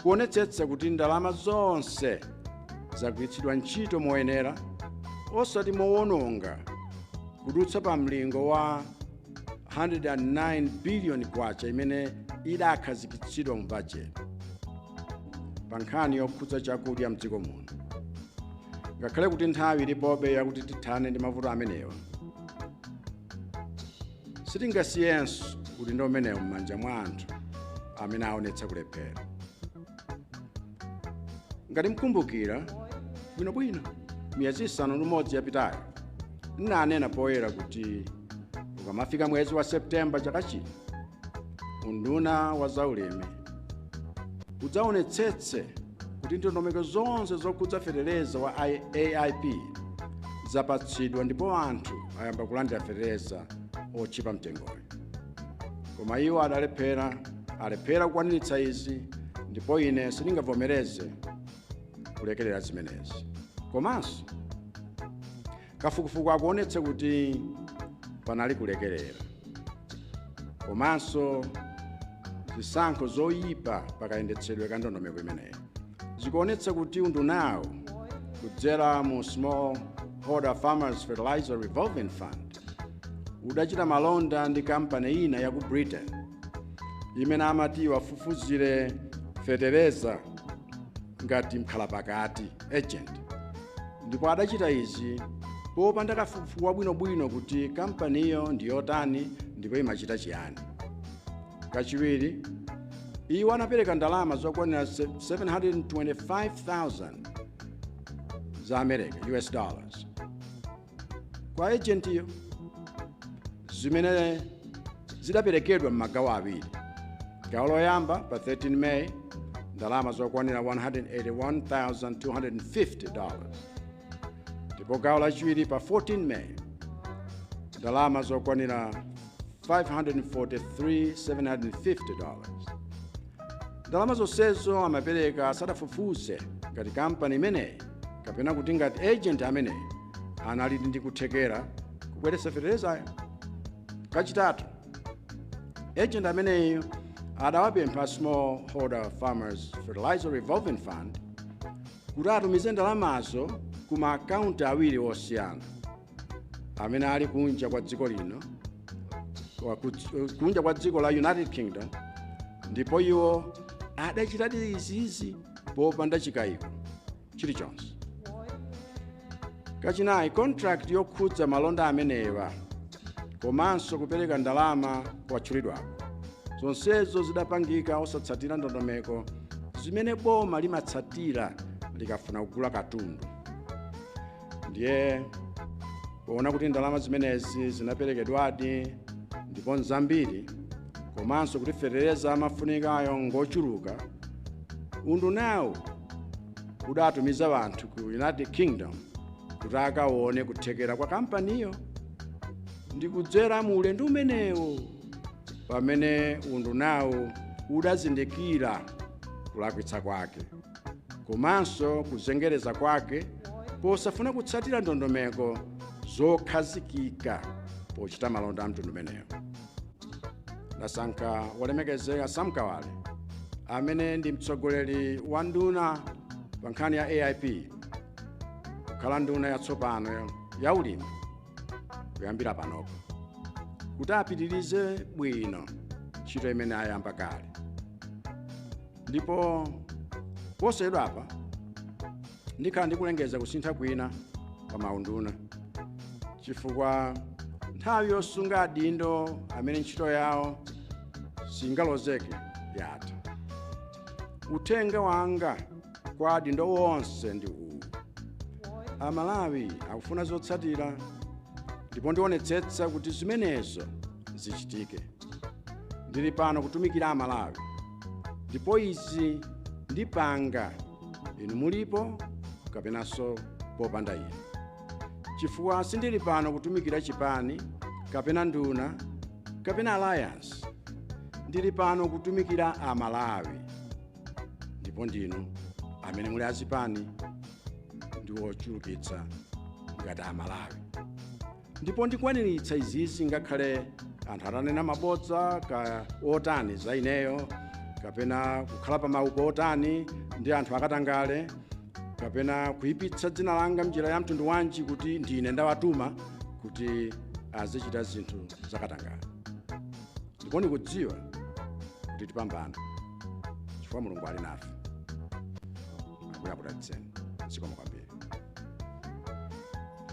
kuonetsetsa kuti ndalama zonse zagwiritsidwa ntchito moyenera osati mowononga kudutsa pa mlingo wa 109 biliyoni kwacha imene idakhazikitsidwa mu bajeti pa nkhani yokhudza chakudya mdziko muno ngakhale kuti nthawi ilipobe yakuti tithane ndi mavuto amenewa sitingasiyenso udindo umenewu m'manja mwa anthu amene aonetsa kulephera ngati mukumbukira bwinobwino miyezi isanu ndi umodzi yapitayo ndinanena poyera kuti ukamafika mwezi wa septemba chaka chino unduna wa zaulimi udzaonetsetse kuti ndondomeko zonse zokhudza feteleza wa aip zapatsidwa ndipo anthu ayamba kulandira feteleza otchipa mtengoyo koma iwo adalephera alephera kukwaniritsa izi ndipo ine sindingavomereze kulekerera zimenezi komanso kafukufuku akuonetsa kuti panali kulekerera komanso zisankho zoyipa pakayendetsedwe ka ndondomeko imeneyi zikuonetsa kuti undunawo kudzera mu small holder farmers fertilizer revolving fund udachita malonda ndi kampani ina ya ku britain imene amati iwafufuzire fetereza ngati mkhalapakati agent ndipo adachita izi popanda kafukufuku wabwinobwino kuti kampaniyo ndi yotani ndipo imachita chiyani kachiwiri iwo anapereka ndalama zokwanira 725,000 za america us dollars kwa ejentiyo zimene zidaperekedwa m'magawo awiri gawo loyamba pa 13 meyi ndalama zokwanira 181,250 dollars ndipo gawo lachiwiri pa 14 meyi ndalama zokwanira $543,750. Ndalama zonsezo amapereka asadafufuze ngati kampani imeneyi kapena kuti ngati agent ameneyi anali ndi kuthekera kubweretsa feterezayo. Kachitatu, agent ameneyi adawapempha smallholder farmers fertilizer revolving fund kuti atumize ndalamazo ku maakaunti awiri osiyana amene ali kunja kwa dziko lino kunja kwa dziko la united kingdom ndipo iwo adachitadi izizi popanda chikayiko chilichonse kachinayi contract yokhudza malonda amenewa komanso kupereka ndalama kwatchulidwako zonsezo zidapangika osatsatira ndondomeko zimene boma limatsatira likafuna kugula katundu ndiye poona kuti ndalama zimenezi zinaperekedwadi ndipo nzambiri komanso kuti fetereza amafunikayo ngochuluka undunawu udatumiza anthu ku united kingdom kuti akaone kuthekera kwa kampaniyo ndi kudzera mu ulendo umenewo pamene undunawu udazindikira kulakwitsa kwake komanso kuzengereza kwake posafuna kutsatira ndondomeko zokhazikika pochita malonda a mtundu umenewo ndasankha wolemekezeka sam kawale amene ndi mtsogoleri wa nduna pa nkhani ya aip kukhala nduna yatsopano ya ulimi kuyambira panopo kuti apitirize bwino ntchito imene ayamba kale ndipo posachedwa apa ndikhala ndikulengeza kusintha kwina pa maunduna chifukwa nthawi yosunga adindo amene ntchito yawo singalozeke yatha uthenga wanga kwa adindo wonse ndi uwu amalawi akufuna zotsatira ndipo ndionetsetsa kuti zimenezo zichitike ndili pano kutumikira amalawi ndipo izi ndipanga inu mulipo kapenanso popanda inu chifukwa sindili pano kutumikira chipani kapena nduna kapena alliance ndili pano kutumikira amalawi ndipo si inu amene muli azipani ndi ochulukitsa ngati amalawi ndipo ndikwaniritsa izizi ngakhale anthu atanena mabodza kaya otani za ineyo kapena kukhala pa maupo otani ndi anthu akatangale kapena kuipitsa dzina langa mnjira ya mtundu wanji kuti ndine ndawatuma kuti azichita zinthu zakatangale ndipo ndikudziwa kuti tipambana chifukwa mulungu ali nafe akudalitseni zikomo kwambiri